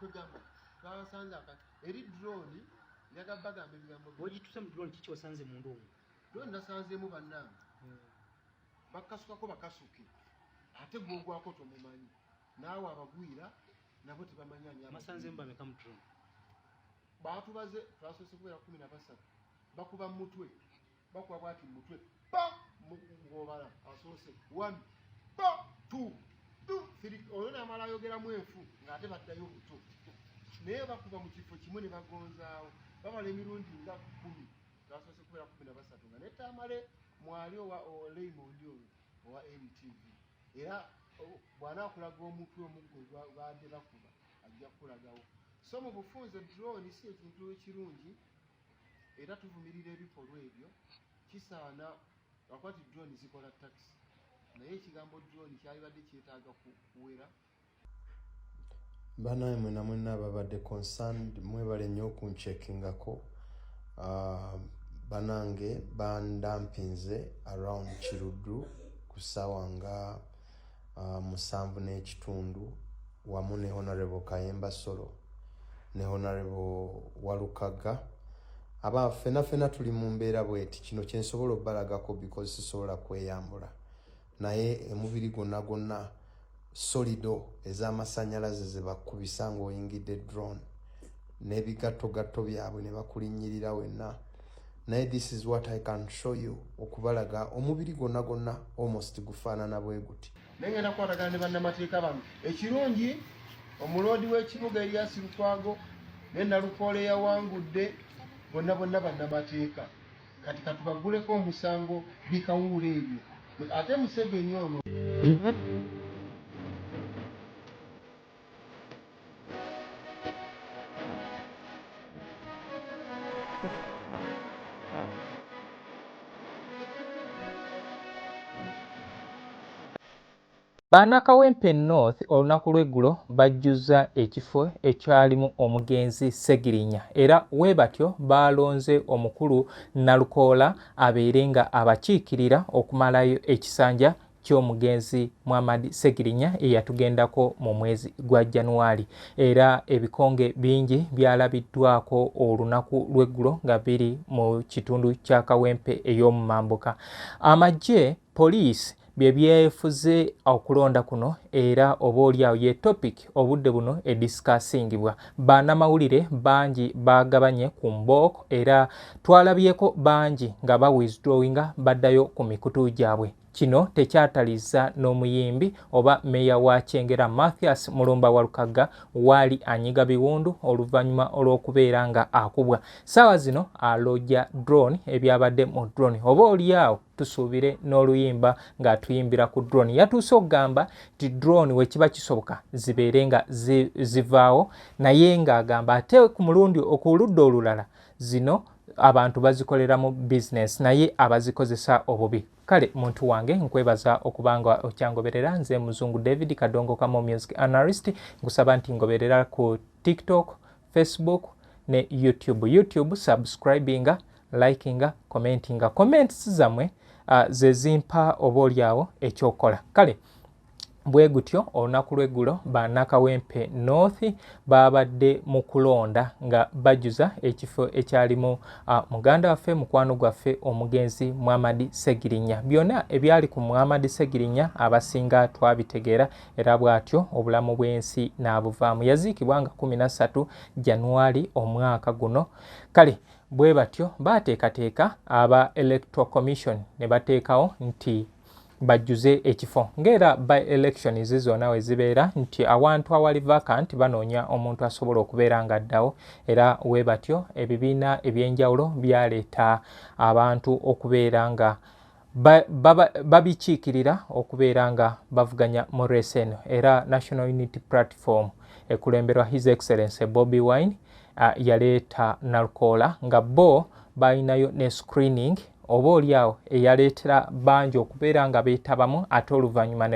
kwegamba twabasanze akati eri drone yagamba bagamba ebigambo bwegituse mu drone kiki osanze munda omu drone nasanzeemu bannange hmm. bakasukako bakasuke ate gwogwako tomumanyi naawe abagwira nabo tebamanyaniamasanzeemu bameka mu drone baatubaze twasoose kubeera kumi na basatu bakuba mu mutwe bakuba bwati mu mutwe pa ng'obala asoose one pa two two three olwo namala ayogeramu enfu ng'ate baddayo buto naye bakuba mu kifo kimu ne bagonzaawo bamala emirundi nga kumi gasoose kubeera kumi na basatu nga netamale mwali owa oleimondi oyo owa mtv era bwanaakulaga omutwe omuggo baadde bakuba ajja kukulagawo so mu bufunze drone si ekintu ekirungi era tuvumirira ebikolwa ebyo kisaana lwakuba ti drone zikola takisi naye ekigambo drone kyalibadde kyetaaga kuwera banaye mwena mwena ababadde concerned mwebale nnyo okunchekingako ah, banange bandampinze around kiruddu ku saawa nga uh, musanvu n'ekitundu wamu ne honorable kayemba solo ne honorable walukaga aba fena fena tuli mu mbeera bweti kino kyensobola obalagako because sisobola kweyambula naye emubiri gonna gonna solido ez'amasanyalaze zebakubisa ngaoyingidde drone n'ebigattogatto byabwe ne bakulinnyirira wenna naye this is what i can show you okubalaga omubiri gwonna gwonna almost gufaanana bwe guti naye ngenda kukwatagana ne bannamateeka bano ekirungi omuloodi w'ekibuga eriasi lukwago ne nalukoola eyawangudde bonna bonna bannamateeka kati katubaguleko omusango bikawuula ebyo ate museveni ono Bana Kawempe North olunaku lw'eggulo bajjuzza ekifo ekyalimu omugenzi Ssegirinya era we batyo baalonze omukulu Nalukoola abeere nga abakiikirira okumalayo ekisanja ky'omugenzi Muhammad Ssegirinya eyatugendako mu mwezi gwa January era ebikonge bingi byalabiddwako olunaku lw'eggulo nga biri mu kitundu kya Kawempe ey'omu mambuka. Amagye, poliisi bye byefuze okulonda kuno era oba olyawo ye topic obudde buno edisikaasingibwa banamawulire bangi bagabanye ku mbooko era twalabyeko bangi nga ba withdrawinga baddayo ku mikutu gyabwe. Kino tekyatalizza n'omuyimbi oba meeya wa Kyengera Mathias Mulumba Walukagga waali anyiga biwundu oluvannyuma olw'okubeera nga akubwa. Ssaawa zino alojja drone ebyabadde mu drone oba olyawo tusuubire n'oluyimba ng'atuyimbira ku drone. Yatuuse okugamba nti drone wekiba kisoboka zibeere nga zivaawo naye ng'agamba ate ku mulundi okuludda olulala zino abantu bazikoleramu business naye abazikozesa obubi kale muntu wange nkwebaza okubanga okyangoberera nze muzungu david kadongo kamo music analyst nkusaba nti ngoberera ku tiktok facebook ne youtube youtube subscribinga likinga commentinga comments zamwe uh, zezimpa oba olyawo ekyokola kale bwe gutyo olunaku lw'eggulo ba nakawempe north baabadde mu kulonda nga bajjuza ekifo ekyalimu muganda waffe mukwano gwaffe omugenzi muhamadi segirinya byonna ebyali ku muhamadi segirinya abasinga twabitegeera era bw'atyo obulamu bw'ensi n'abuvaamu yaziikibwa nga 13 januwali omwaka guno kale bwe batyo baateekateeka aba electoral commission ne bateekawo nti bajjuze ekifo ng'era by elections zona we zibeera nti awantu awali vacant banoonya omuntu asobola okubeera nga addawo era we batyo ebibiina eby'enjawulo byaleeta abantu okubeera nga babikiikirira okubeera nga bavuganya mu reesi eno era national unity platform ekulemberwa his excellence bobi wine uh, yaleeta nalukoola nga bo balinayo ne screening oba olyawo eyaleetera bangi okubeera nga beetabamu ate oluvannyuma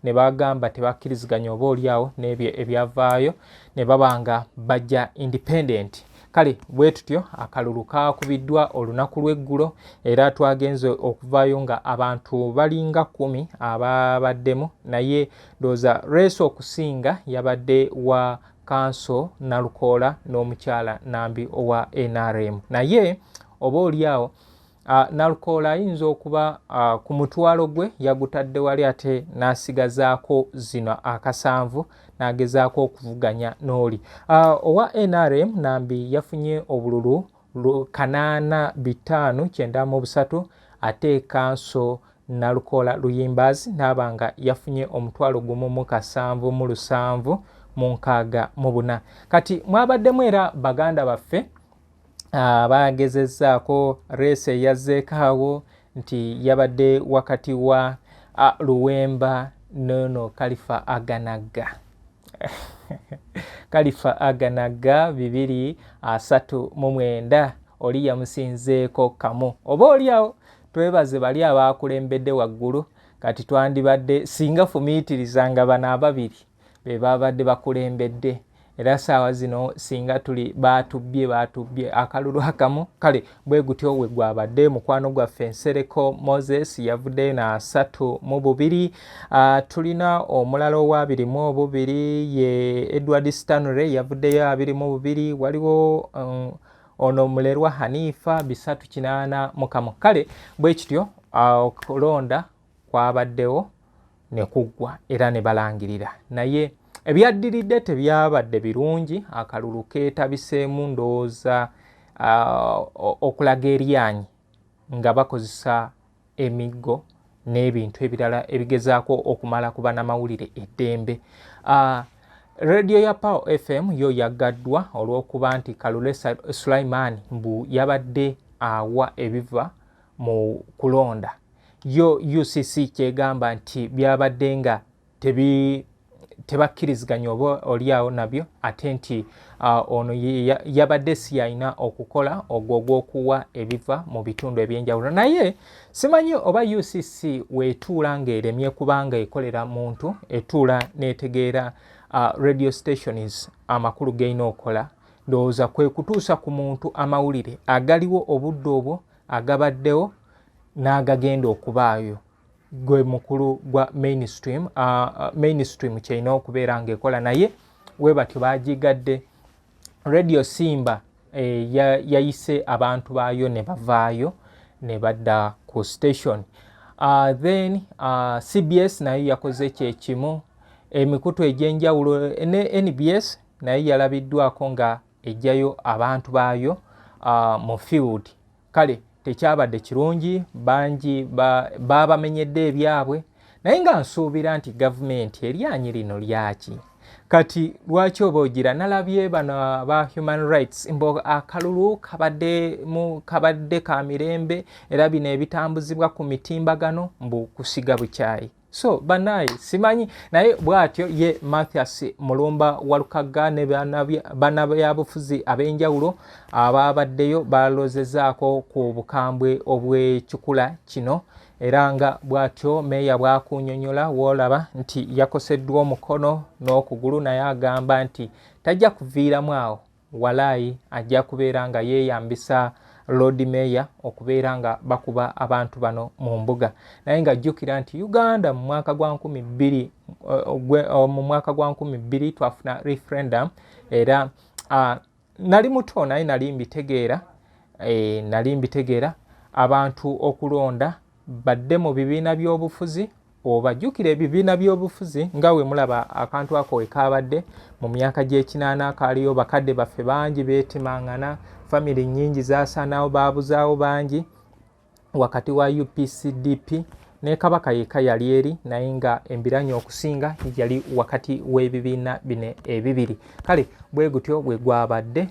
ne bagamba tebakkiriziganya oba olyawo n'ebyo ebyavaayo ne baba nga bajja independent kale bwe tutyo akalulu kaakubiddwa olunaku lw'eggulo era twagenze okuvaayo nga abantu balinga kkumi ababaddemu naye ndowooza reeso okusinga yabadde wa kanso Nalukoola n'omukyala Nambi owa nrm naye oba oli awo Nalukoola ayinza okuba ku mutwalo gwe yagutadde wali ate n'asigazaako zino akasanvu n'agezaako okuvuganya n'oli owa nrm Nambi yafunye obululu kanaana bitaano kyenda mu busatu ate kanso Nalukoola Luyimbaazi n'aba nga yafunye omutwalo gumu mu kasanvu mu lusanvu mu nkaaga mu buna. Kati mwabaddemu era baganda baffe abaagezezzaako reesi eyazzeeko awo nti yabadde wakati wa Luwemba noono Kalifa Aganagga. Kalifa Aganagga bibiri asatu mu mwenda oli yamusinzeeko kamu oba olyawo Twebaze bali abaakulembedde waggulu kati twandibadde singa fumiitiriza nga bano ababiri be baabadde bakulembedde era saawa zino singa tuli baatubbye baatubbye akalulu akamu kale bwe gutyo we gwabadde mukwano gwaffe nsereko moses yavuddeyo nasatu mu bubiri uh, tulina omulala owabiri mu obubiri ye edward stanley yavuddeyo abiri mu bubiri waliwo um, ono mulerwa hanifa bisatu kinaana mukamu kale bwe kityo okulonda kwabaddewo ne kuggwa era ne balangirira naye ebyaddiridde tebyabadde birungi akalulu keetabiseemu ndowooza okulaga eryanyi nga bakozesa emiggo n'ebintu ebirala ebigezaako okumala ku banamawulire eddembe uh, Radio ya Power FM yo yaggaddwa olw'okuba nti Kalule Sulaiman mbu yabadde awa ebiva mu kulonda yo UCC kyegamba nti byabadde nga tebi tebakkiriziganya oba olyawo nabyo ate nti uh, ono yabadde si yalina okukola ogwo ogw'okuwa ebiva mu bitundu eby'enjawulo naye simanyi oba ucc weetuula ng'eremye kubanga ekolera muntu etuula n'etegeera uh, radio stations amakulu g'erina okukola ndowooza kwe kutuusa ku muntu amawulire agaliwo obudde obwo agabaddewo n'agagenda okubaayo gwe mukulu gwa mainstream uh, mainstream kyerina okubeera ngaekola naye we batyo bagigadde radio simba eh, yayise abantu baayo ne bavaayo ne badda ku station uh, then uh, cbs nayo yakoze kyekimu emikutu egyenjawulo ne nbs naye yalabiddwako nga ejjayo abantu baayo uh, mu field kale tekyabadde kirungi bangi baabamenyedde ba ebyabwe naye nga nsuubira nti gavumenti eryanyi lino lyaki kati lwaki oba ogira nalabye bano aba human rights mbu akalulu kabadde ka mirembe era bino ebitambuzibwa ku mitimbagano mbu kusiga bukyayi so banaye simanyi naye bwatyo ye mathias mulumba walukagga ne banabyabufuzi ab'enjawulo abaabaddeyo balozezaako ku bukambwe obw'ekikula kino era nga bwatyo meeya bwakunyonyola woolaba nti yakoseddwa omukono n'okugulu naye agamba nti tajja kuviiramu awo Walai ajja kubeera nga yeyambisa Lord Mayor okubeera nga bakuba abantu bano mu mbuga naye nga jjukira nti Uganda mu mwaka gwa nkumi bbiri eh, eh, mu mwaka gwa nkumi bbiri twafuna referendum era ah, nali muto naye nali mbitegeera eh, nali mbitegeera abantu okulonda badde mu bibiina by'obufuzi obajjukira ebibiina by'obufuzi nga we mulaba akantu ako we kaabadde mu myaka gy'ekinaana akaaliyo bakadde baffe bangi beetimangana famire nnyingi zaasaanawo baabuzaawo bangi wakati wa upcdp ne kabaka yekka yali eri naye nga embiranye okusinga yali wakati w'ebibiina bino ebibiri kale bwe gutyo bwe gwabadde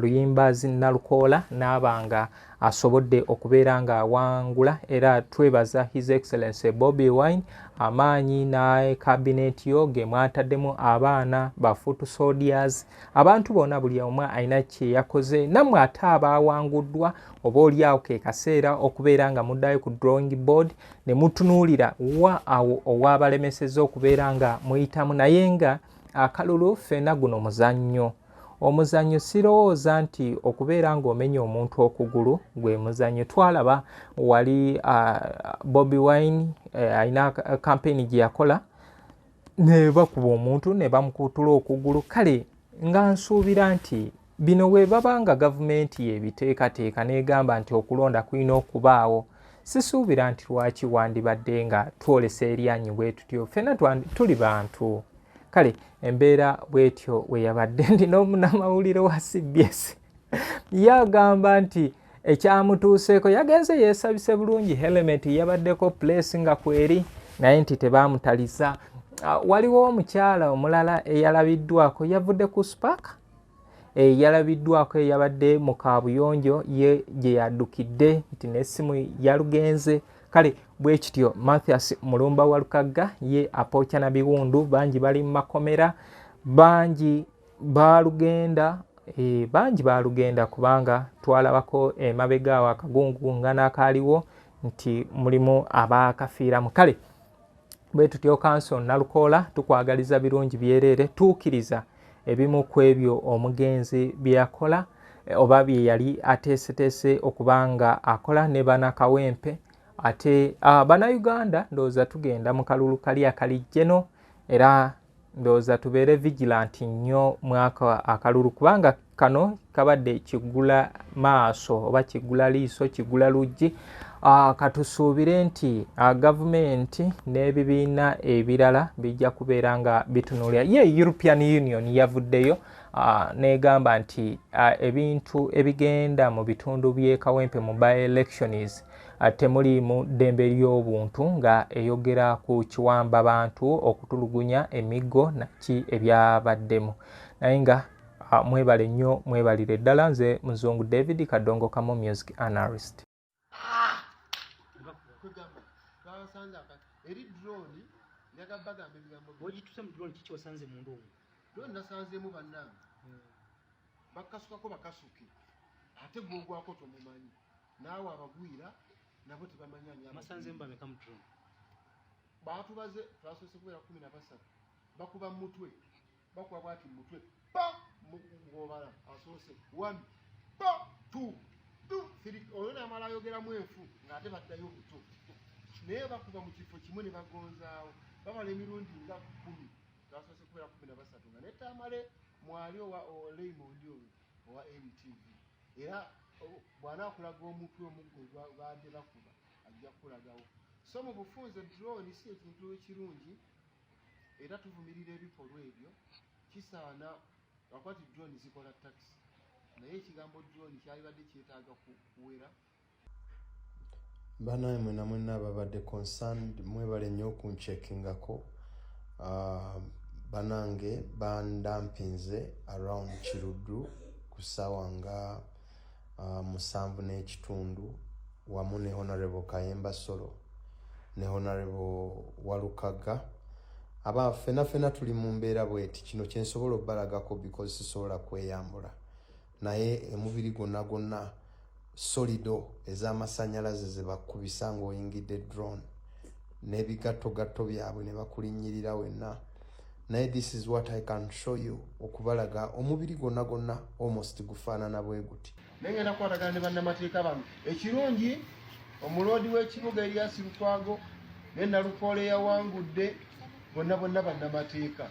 luyimbazi nalukoola n'abanga asobodde okubeera nga awangula era twebaza his excellence bobi wine amaanyi ne kabineeti yo ge mwataddemu abaana ba foot soldiers abantu bona buli omu alina kyeyakoze nammwe ate abaawanguddwa oba olyawo ke kaseera okubeera nga muddayo ku drawing board ne mutunuulira wa awo owaabalemeseza okubeera nga muyitamu naye nga akalulu ffena guno muzannyo omuzanyo sirowooza nti okubeera ng'omenya omuntu okugulu gwe muzanyo twalaba wali uh, bobi wine uh, alina kampeyini gye yakola ne bakuba omuntu ne bamukutula okugulu kale nga nsuubira nti bino bwe baba nga gavumenti yebiteekateeka n'egamba nti okulonda kulina okubaawo Sisuubira nti lwaki wandibadde nga twolesa eryanyi bwe tutyo, ffena tuli bantu. Kale embeera bw'etyo we yabadde ndi n'omunamawulire wa CBS ye agamba nti ekyamutuuseeko yagenze yeesabise bulungi helementi yabaddeko puleesi nga kweri naye nti tebaamutaliza. Ah, waliwo omukyala omulala eyalabiddwako yavudde ku spark Eh, yalabiddwako eyabadde mu kaabuyonjo ye gye yaddukidde nti n'essimu yalugenze kale bwe kityo mathias mulumba wa lukagga ye apooca na biwundu bangi bali mu makomera bangi baalugenda eh, bangi baalugenda kubanga twalabako emabega awo akagungu nga n'akaaliwo nti mulimu abaakafiiramu kale bwe tutyo kanso nalukoola tukwagaliza birungi byereere tuukiriza ebimu ku ebyo omugenzi bye yakola eh, oba bye yali ateeseteese okuba nga akola ne bana kawempe ate uh, ah, banauganda ndowooza tugenda mu kalulu kali akalijjeno era ndowooza tubeere vigilant nnyo mwaka akalulu kubanga kano kabadde kigula maaso oba kigula liiso kigula luggi ah, katusuubire nti ah, gavumenti n'ebibiina ebirala bijja kubeera nga bitunulira ye european union yavuddeyo ah, negamba nti ebintu ebigenda mu bitundu by'ekawempe mu by elections Temuli mu ddembe ly'obuntu nga eyogera ku kiwamba bantu okutulugunya emiggo naki ebyabaddemu naye nga mwebale nnyo mwebalire ddala nze muzungu david kadongo kamo music analyst eri drone yagabagamba ebigambo bwegituse mu drone kiki osanze mundu omu drone nasanzemu bannange bakasukako bakasuke ate gwogwako tomumanyi Naawe abagwira nabo tebamanya nyama. Masanze mba beka mutro. Baatu baze twasose kubera 13. Bakuba mutwe. Bakuba bwati mutwe. Pa mugobala asose. 1 pa 2 2 3 oyona mala yogera mwefu ngate batayo buto. Naye bakuba mu kifo kimwe ne bagonzaawo. Baba le mirundi nga 10. Twasose kubera 13 nga netamale mwali owa Raymond oyo. owa NTV era bw'anaakulaga omutwe omuggo baadde bakuba ajja kukulagawo so mu bufunze drone si ekintu ekirungi era tuvumirira ebikolwa ebyo kisaana akwati drone zikola taxi naye ekigambo drone kyalibadde kyetaaga kuwera ku, banaye mwena mwena ababadde concerned mwebale nnyo okunchekingako ah, banange bandampinze around kiruddu ku ssaawa nga ah, musanvu n'ekitundu wamu ne honorable kayemba solo ne honorable walukaga aba fenafena tuli mu mbeera bweti kino kyensobola obalagako because sisobola kweyambula naye emubiri gwonna gwonna solido ez'amasannyalaze ze bakubisa ng'oyingidde drone n'ebigattogatto byabwe ne bakulinnyirira wenna naye this is what i can show you okubalaga omubiri gwonna gwonna almost gufaanana bwe guti naye ngenda kukwatagana ne bannamateeka bano ekirungi omuloodi w'ekibuga eriyasi lukwago ne nalukoola eyawangudde bonna bonna bannamateeka